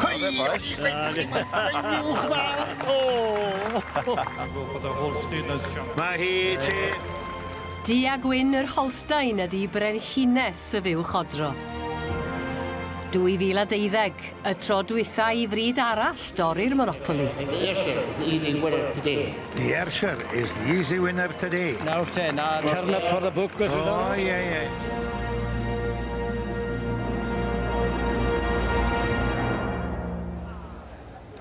Cei! O'n i reit dach chi'n gwerthu uwch ddaw! O! Mae hi ti! Du a gwyn yr Holstein ydy brenhines y fuwch odro. 2012, y tro dwytha i fryd arall dorri'r monopoli. It is the easy winner today. The Archer is the easy winner today. Nawr te, 'na turn up for the book os yw 'na rwbeth. O ie ie.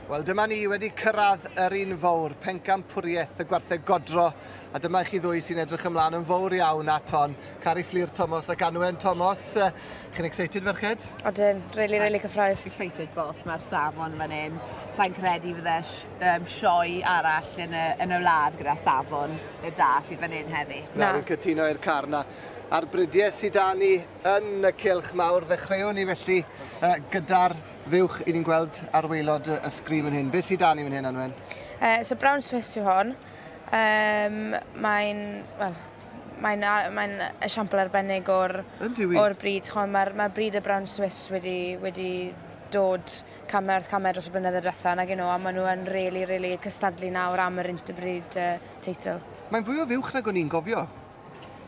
Wel dyma ni wedi cyrraedd yr un fowr, pencampwriaeth y gwartheg godro, a dyma i chi ddwy sy'n edrych ymlaen yn fowr iawn at hon, Cari Fflur Tomos ac Anwen Tomos. Uh, chi'n excited ferched? Odyn, really, really cyffroes. Excited both, mae'r safon fan hyn. Sa'n credu fydde um, sioe arall yn y, yn y wlad gyda safon y da sydd fan hyn heddi. Na, fi'n cytuno i'r car na. A'r bridiau sydd da ni yn y cilch mawr, ddechreuwn ni felly uh, gyda'r fuwch i ni'n gweld ar weilod y sgrin fan hyn. Beth sydd da ni fan hyn, Anwen? Uh, so Brown Smith yw hon. Um, mae'n, well, mae'n mae esiampl arbennig o'r, or bryd. Mae'r mae bryd y Brown Swiss wedi, wedi dod camau wrth camau dros y blynyddoedd diwetha' nag 'yn nhw a maen nhw yn rili, rili cystadlu nawr am yr Interbreed teitl. Mae'n fwy o fuwch nag o'n i'n gofio.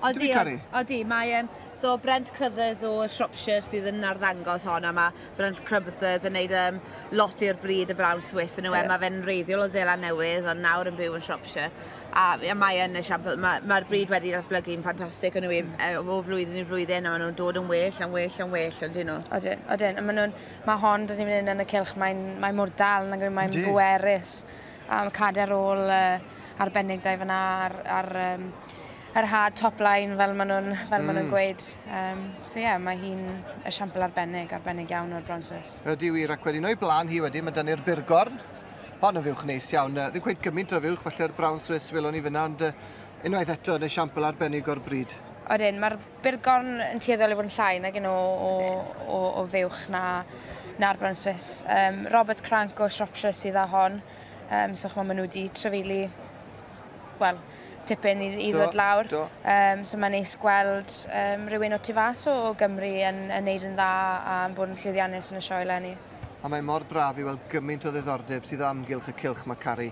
Yndyw hi, Cari? Odi, odi. Mae e'n... So Brent Crothers o Shropshire sydd yn arddangos hon a mae Brent Crothers yn neud um, lot i'r bryd y Brown Swiss yn yw e. Mae fe'n reiddiol o Zeland Newydd ond nawr yn byw yn Shropshire. A mae yn esiampl, mae'r ma bryd wedi datblygu'n ffantastig yn yw e, o flwyddyn i flwyddyn a maen nhw'n dod yn well, yn well, yn well, ond dyn nhw. Odyn, odyn. A maen nhw'n Mae hon dyn ni'n mynd yn y cylch, mae'n mae mor dal, mae'n mae mae'n bwerus. Um, cader ôl uh, arbennig da i fyna ar, ar um, yr hard top line fel maen nhw'n fel mm. maen nhw'n mm. gweud. Um, so ie, yeah, mae hi'n esiampl arbennig, arbennig iawn o'r Bron Swiss. Ydy wir, ac wedyn o'i blaen hi wedyn, mae dynnu'r Burgorn. Hon yn fywch neis iawn, ddim gweud gymaint o fywch, felly'r Brown Swiss welwn ni fyna, ond unwaith eto yn esiampl arbennig o'r bryd. Oedyn, mae'r Bu'r gorn yn tueddol i fod yn llai nag un o, o, o, o fuwch na, na'r brown Swiss. Um, Robert Crank o Shropshire sydd â hon. Um, so chmo, maen nhw wedi trefili wel, tipyn i, i ddod lawr. Do. Um, so mae'n neis gweld um, rhywun o tu fas o, o Gymru yn, yn neud yn dda a yn bod yn llwyddiannus yn y sioe lenni. A mae mor braf i weld gymaint o ddiddordeb sydd o amgylch y cylch mae Cari.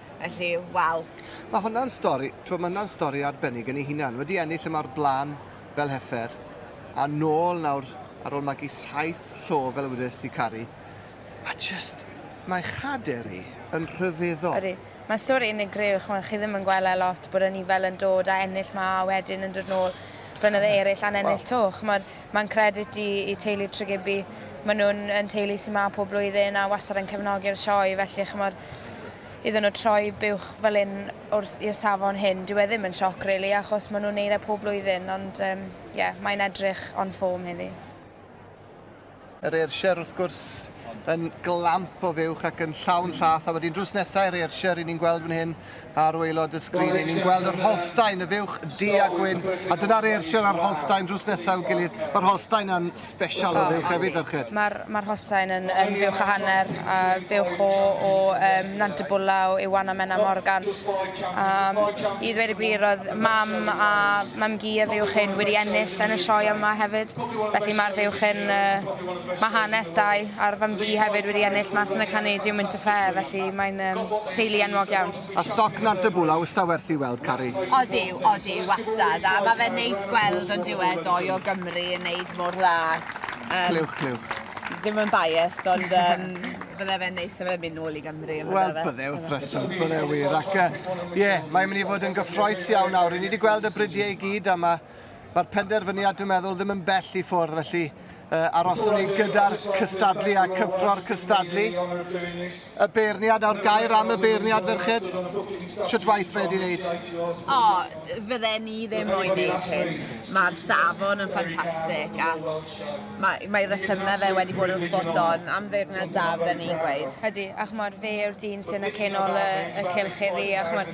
Felly, waw. Mae hwnna'n stori, mae hwnna'n stori arbennig yn ei hunan. Wedi ennill y mawr blaen fel heffer, a nôl nawr ar ôl magu saith llo fel y wedys ti Cari. A just, mae chader i yn rhyfeddol. Ydy. Mae stori unigryw, chymod, chi ddim yn gweld e lot, bod yn fel yn dod a ennill ma a wedyn yn dod nôl blynydde eraill a'n ennill to. Chymod, mae'n credit i, i teulu Tregibi. Maen nhw'n yn teulu sy'n ma pob blwyddyn a wastad yn cefnogi'r sioe, felly chymod, iddyn nhw troi buwch fel hyn i'r safon hyn, dyw e ddim yn sioc rili achos maen nhw'n neud e pob blwyddyn ond ie um, yeah, mae'n edrych on ffôm heddi. Yr Ayrshire wrth gwrs yn glamp o fuwch ac yn llawn llath a wedyn drws nesaf i'r Ayrshire ry'n ni'n gweld fan hyn Ar waelod y sgrin, ry'n ni'n gweld yr Holstein, y fuwch du a gwyn, a dyna'r Ayrshire a'r Holstein drws nesaf i'w gilydd. Mae'r Holstein yn special o fuwch hefyd, ferched. Mae'r ma Holstein yn, yn fuwch o hanner, a fuwch o, o um, Nant y Bwlaw, Iwan a Menna Morgan. Um, I ddweud y gwir, oedd mam a mam gi a fuwch hyn wedi ennill yn y sioe yma hefyd. Felly mae'r fuwch hyn, uh, mae hanes dau, a'r fam gi hefyd wedi ennill mas yn y Canadian Winter Fair, felly mae'n... Um, Teulu enwog iawn. A stoc nant a bwla wsta werth i weld Cari. Odi, odi, wastad, a ma fe'n neis gweld ond yw e doi o Gymru yn neud mor dda yym. Clywch clywch. Ddim yn biased ond yym bydde fe'n neis fe myn nôl i Gymru on'd yfe? Wel bydde wrth reswm bydde wir ac yy ie mae'n myn i fod yn gyffroes iawn nawr ry'n ni di gweld y brydie i gyd a ma Mae'r penderfyniad, dwi'n meddwl, ddim yn bell i ffwrdd, felly uh, aroswn ni gyda'r cystadlu a cyffro'r cystadlu. Y beirniad a'r gair am y beirniad, ferched? Sut waith fe di wneud? O, oh, fydde ni ddim moyn wneud hyn. Mae'r safon yn ffantastig a mae, mae rhesymau fe wedi bod yn spot on am feirniad da fydde ni'n gweud. Ydy, a chymod, fe yw'r dyn sy'n y cenol y, y cylch iddi, a chymod,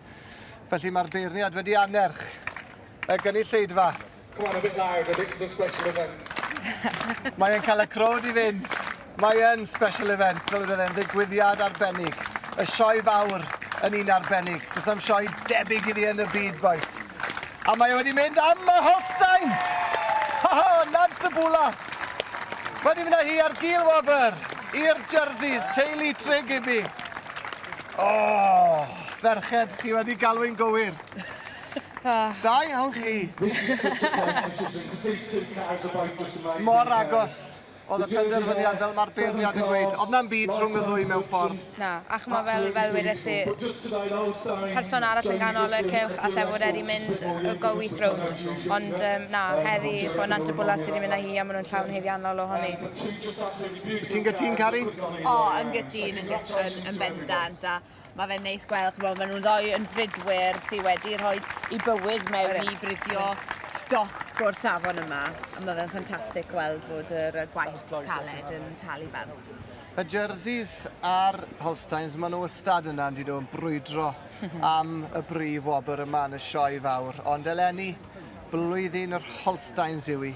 Felly mae'r beirniad wedi annerch y gynulleidfa. Come on, a bit loud, a bit of a special event. Mae e'n cael y crowd i fynd. Mae yn special event, fel bydd e'n ddigwyddiad arbennig. Y sioe fawr yn un arbennig. Does am sioe debyg iddi yn y byd, boys. A mae e wedi mynd am y Holstein! Ha ha, nant y bwla! Wedi mynd â hi ar gil wobr i'r jerseys, teulu Tre Gibby. O! Ferched, chi wedi galw'n gywir. Da iawn chi. Mor agos oedd y penderfyniad fel mae'r beirniad yn gweud. Oedd na'm byd rhwng y ddwy mewn ffordd. Na, ac mae fel, fel wedes i, person arall yn ganol y cylch allai fod wedi mynd y go wyth rownd. Ond um, na, heddi, chwa, Nant y Bwla sydd wedi mynd â hi a maen nhw'n llawn haeddiannol o honni. Ti'n gytun, Cari? O, yn gytun, yn, yn, yn bendant, a mae fe'n neis gweld, chymod, maen nhw'n ddoi yn fridwyr sydd wedi rhoi i bywyd mewn i bridio stoc o'r safon yma. A mae fe'n ffantastig gweld bod yr gwaith caled yn talu bant. Y jerseys a'r Holsteins, maen nhw ystad yna, yn nhw'n brwydro am y brif wobr yma yn y sioe fawr. Ond eleni, blwyddyn yr Holsteins yw i.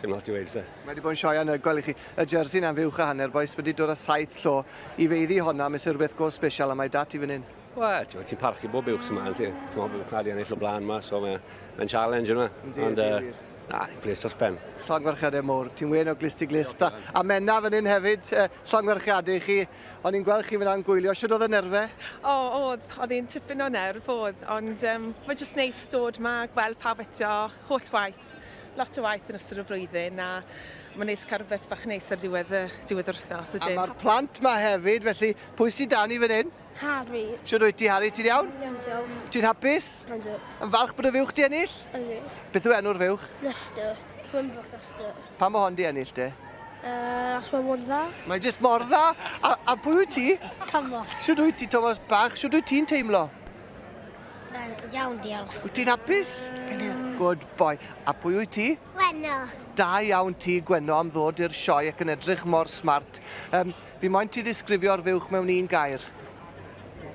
Dim lot i weud, se. Mae wedi bod yn sioe anhygoel gweld i chi. Y jersey na'n fuwch a hanner bois wedi dod â saith llo i feiddi honna, mae sy'n rhywbeth go special a mae dat i fan hyn. Wel, ti'n ti parchu bob buwch sy'n ma'n ti. Ti'n meddwl bod wedi ennill o blaen ma, so mae'n mae challenge yma. Ond, uh, na, i'n plis dros pen. Llongwerchiadau mowr, ti'n wen o glist i glist. A, a menna fan hyn hefyd, uh, llongwerchiadau i chi. O'n i'n gweld chi fyna yn gwylio, sydd oedd y nerfe? O, oh, oedd, oedd hi'n tipyn o nerf, oedd. Ond um, mae jyst neis dod ma, gweld pawb eto, holl waith. lot o waith yn ystod y flwyddyn a mae'n neis cael rhywbeth bach neis ar diwedd y diwedd yr wythnos. A mae'r plant ma hefyd, felly pwy sy'n dan i fan hyn? Harry. Siwr wyt ti, Harry, ti'n iawn? Iawn, diolch. Ti'n hapus? Ynddo. Yn falch bod y fuwch di ennill? Ynddo. Beth yw enw'r fuwch? Lester. Wimbrook Lester. Pa mae hon di ennill te? Uh, os mae mor dda. Mae jyst mor dda. A, a pwy wyt ti? Thomas. Siwr wyt ti, Thomas Bach? Siwr wyt ti'n teimlo? Mae'n iawn, diolch. Wyt ti'n hapus? Ydw. Good boy. A pwy wyt ti? Gwenno. Da iawn ti, Gwenno, am ddod i'r sioe ac yn edrych mor smart. Um, fi moyn ti ddisgrifio'r fuwch mewn un gair.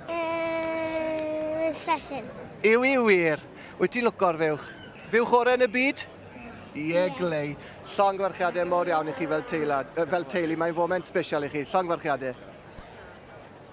Uh, special. Yw i wir. Wyt ti'n lwco'r fuwch? Fuwch orau yn y byd? Ie, yeah, glei. Llongfarchiadau mor iawn i chi fel, teilad, uh, fel teulu. Mae'n foment special i chi. Llongfarchiadau.